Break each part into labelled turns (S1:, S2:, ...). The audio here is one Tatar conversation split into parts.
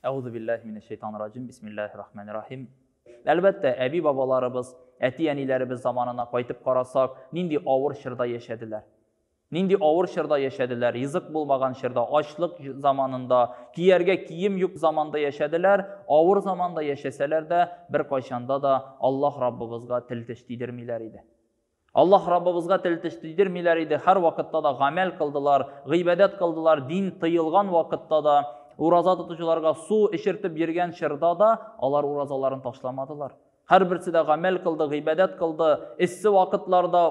S1: Әгъузу биллаһи минәш шәйтанир раҗим. Бисмиллаһир рахманир рахим. Әлбәттә, әби-бабаларыбыз, әти-әниләребез заманына кайтып карасак, нинди авыр чорда яшәделәр. Нинди авыр чорда яшәделәр, ризык булмаган чорда, ачлык заманында, кияргә кием юк заманда яшәделәр, авыр заманда яшәсәләр дә, беркайчанда да Аллаһ Раббыбызга тел теш тидермиләр иде. Аллаһ Раббыбызга тел теш тидермиләр иде, һәрвакытта да гамәл кылдылар, гыйбадәт кылдылар, дин тыелган вакытта да, ураза тотучыларга су эчертеп йөргән чорда да алар уразаларын ташламадылар. Һәрберсе дә гамәл кылды, гыйбадәт кылды. Эссе вакытларда,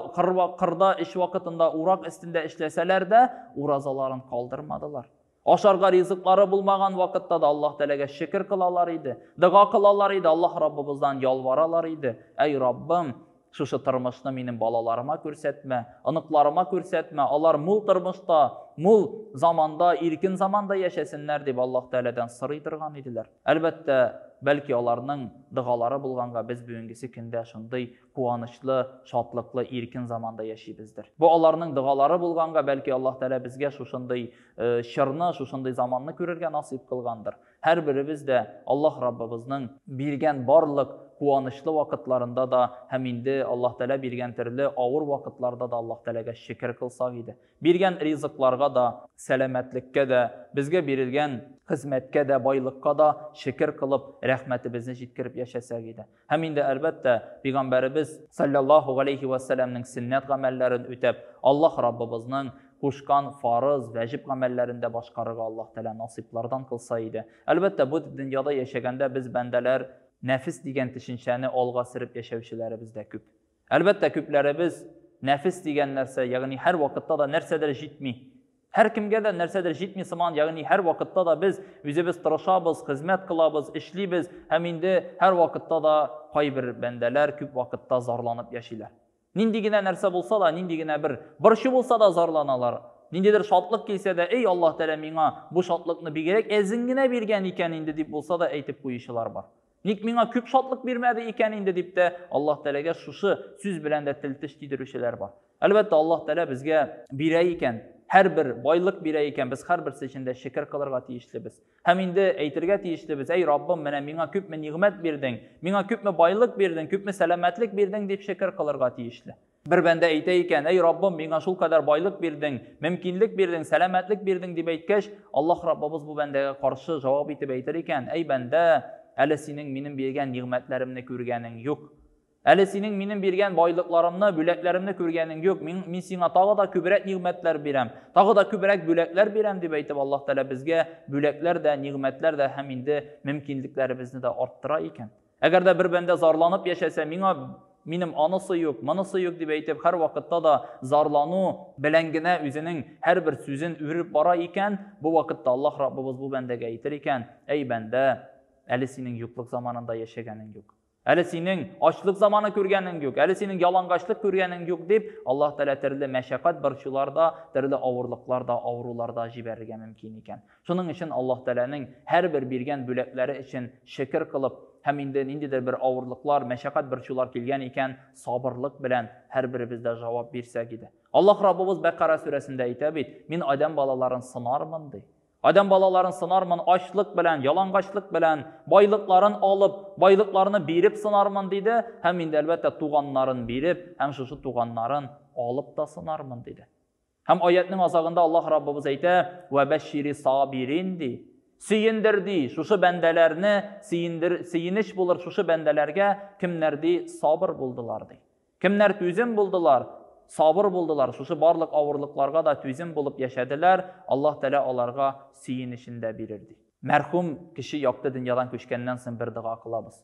S1: кырда, эш вакытында, урак өстендә эшләсәләр дә, уразаларын калдырмадылар. Ашарга ризыклары булмаган вакытта да Аллаһ Тәләгә шөкер кылалар иде, дога кылалар иде, Аллаһ Раббыбыздан ялваралар иде. Әй Раббым, шушы тормышны минем балаларыма күрсәтмә, оныкларыма күрсәтмә, алар мул тормышта, мул заманда, иркен заманда яшәсеннәр дип Аллаһ Тәләдән сорый торган иделәр. Әлбәттә, бәлки аларның дыгалары булганга без бүгенгесе көндә шундый куанычлы, шатлыклы, иркен заманда яшибездер. Бу аларның догалары булганга, бәлки Аллаһ Тәгалә безгә шушындый э, чорны, шушындый заманны күрергә насыйп кылгандыр. Һәрберебез дә Аллаһ Раббыбызның биргән барлык куанычлы вакытларында да һәм инде Аллаһ Тәгалә биргән төрле авыр вакытларда да Аллаһ Тәгаләгә шөкер кылсак иде. Биргән ризыкларга да, сәламәтлеккә дә, безгә бирелгән хезмәткә дә, байлыкка да шөкер кылып, рәхмәтебезне җиткереп яшәсәк иде. Һәм инде, әлбәттә, пигамбәребез саллаллаһу галәйһи ва сәләмнең сөннәт гамәлләрен үтәп, Аллаһ Раббыбызның кушкан фарыз, вәҗиб гамәлләрен дә башкарырга Аллаһ Тәгалә насыйплардан кылса иде. Әлбәттә, бу дөньяда яшәгәндә без бәндәләр нәфес дигән төшенчәне алга сөреп яшәүчеләребез дә күп. Әлбәттә, күпләребез нәфес дигән нәрсә, ягъни һәр вакытта да нәрсәдер җитми. Һәр кемгә дә нәрсәдер җитми сыман, ягъни һәр вакытта да без үзебез тырышабыз, хезмәт кылабыз, эшлибез һәм инде һәр вакытта да кайбер бәндәләр күп вакытта зарланып яшиләр. Нинди генә нәрсә булса да, нинди генә бер борчу булса да зарланалар. Ниндидер шатлык килсә дә, "Эй, Аллаһ Тәгалә миңа бу шатлыкны бигрәк әзен генә биргән икән инде" дип булса да әйтеп куючылар бар. Ник миңа күп шатлык бирмәде икән инде дип тә Аллаһ Тәләгә шушы сүз белән дә тел теш тидерүчеләр бар. Әлбәттә, Аллаһ Тәлә безгә бирә икән, һәрбер байлык бирә икән, без һәрберсе өчен дә шөкер кылырга тиешлебез. Һәм инде әйтергә тиешлебез, әй Раббым, менә миңа күпме нигъмәт бирдең, миңа күпме байлык бирдең, күпме сәламәтлек бирдең дип шөкер кылырга тиешле. Бер бәндә әйтә икән, Әй Раббым, миңа шул кадәр байлык бирдең, мөмкинлек бирдең, сәламәтлек бирдең, дип әйткәч, Аллаһ Раббыбыз бу бәндәгә каршы җавап итеп әйтер икән, Әй бәндә, әле синең минем биргән нигъмәтләремне күргәнең юк. Әле синең минем биргән байлыкларымны, бүләкләремне күргәнең юк. Мин, мин сиңа тагы да күбрәк нигъмәтләр бирәм, тагы да күбрәк бүләкләр бирәм, дип әйтеп, Аллаһ Тәгалә безгә бүләкләр дә, нигъмәтләр дә һәм инде мөмкинлекләребезне дә арттыра икән. Әгәр дә бер бәндә зарланып яшәсә, миңа минем анысы юк, монысы юк дип әйтеп, һәр вакытта да зарлану белән генә үзенең һәрбер сүзен үреп бара икән, бу вакытта Аллаһ Раббыбыз бу бәндәгә әйтер икән, әй бәндә, әле синең юклык заманында яшәгәнең юк. Әле синең ачлык заманы күргәнең юк, әле синең ялангачлык күргәнең юк дип, Аллаһ Тәгалә төрле мәшәкать борчуларда, төрле авырлыкларда, авыруларда җибәрергә мөмкин икән. Шуның өчен Аллаһ Тәгаләнең һәрбер биргән бүләкләре өчен шөкер кылып һәм инде ниндидер бер авырлыклар, мәшәкать борчулар килгән икән, сабырлык белән һәрберебез дә җавап бирсәк иде. Аллаһ Раббыбыз Бәкара сүрәсендә әйтә бит, Мин адәм балаларын сынармын, ди. Адәм балаларын сынармын, ачлык белән, ялангачлык белән, байлыкларын алып, байлыкларны биреп сынармын, диде, һәм инде, әлбәттә, туганнарын биреп һәм шушы туганнарын алып та сынармын, диде. Һәм аятның азагында Аллаһ Раббыбыз әйтә, "Вә бәшшири сабирин" ди. Сөендер ди, шушы бәндәләрне сөендер, сөенеч булыр шушы бәндәләргә, кемнәр ди сабыр булдылар ди. Кемнәр түзем булдылар, сабыр булдылар, шушы барлык авырлыкларга да түзем булып яшәделәр, Аллаһ Тәгалә аларга сөенечен дә бирер ди. Мәрхүм кеше якты дөньядан күчкәннән соң бер дога кылабыз.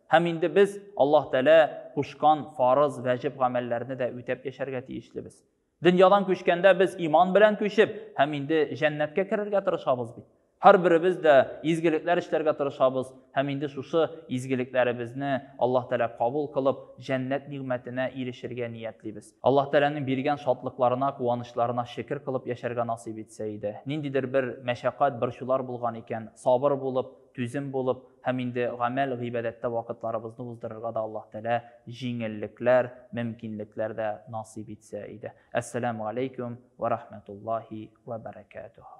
S1: Һәм инде без Аллаһ Тәгалә кушкан фарыз, вәҗиб гамәлләрне дә үтәп яшәргә тиешлебез. Дөньядан күчкәндә без иман белән күчеп, һәм инде җәннәткә керергә тырышабыз бит. Һәрберебез дә изгелекләр эшләргә тырышабыз һәм инде шушы изгелекләребезне Аллаһ Тәгалә кабул кылып, җәннәт нигъмәтенә ирешергә ниятлибез. Аллаһ Тәгаләнең биргән шатлыкларына, куанычларына шөкер кылып яшәргә насыйп итсә иде. Ниндидер бер мәшәкать, борчулар булган икән, сабыр булып, Түзем булып һәм инде гамәл, гыйбадәттә вакытларыбызны уздырырга да Аллаһ Тәгалә җиңеллекләр, мөмкинлекләр дә насыйп итсә иде. Әссәламү галәйкүм вә рахмәтуллаһи вә бәрәкәтүһү.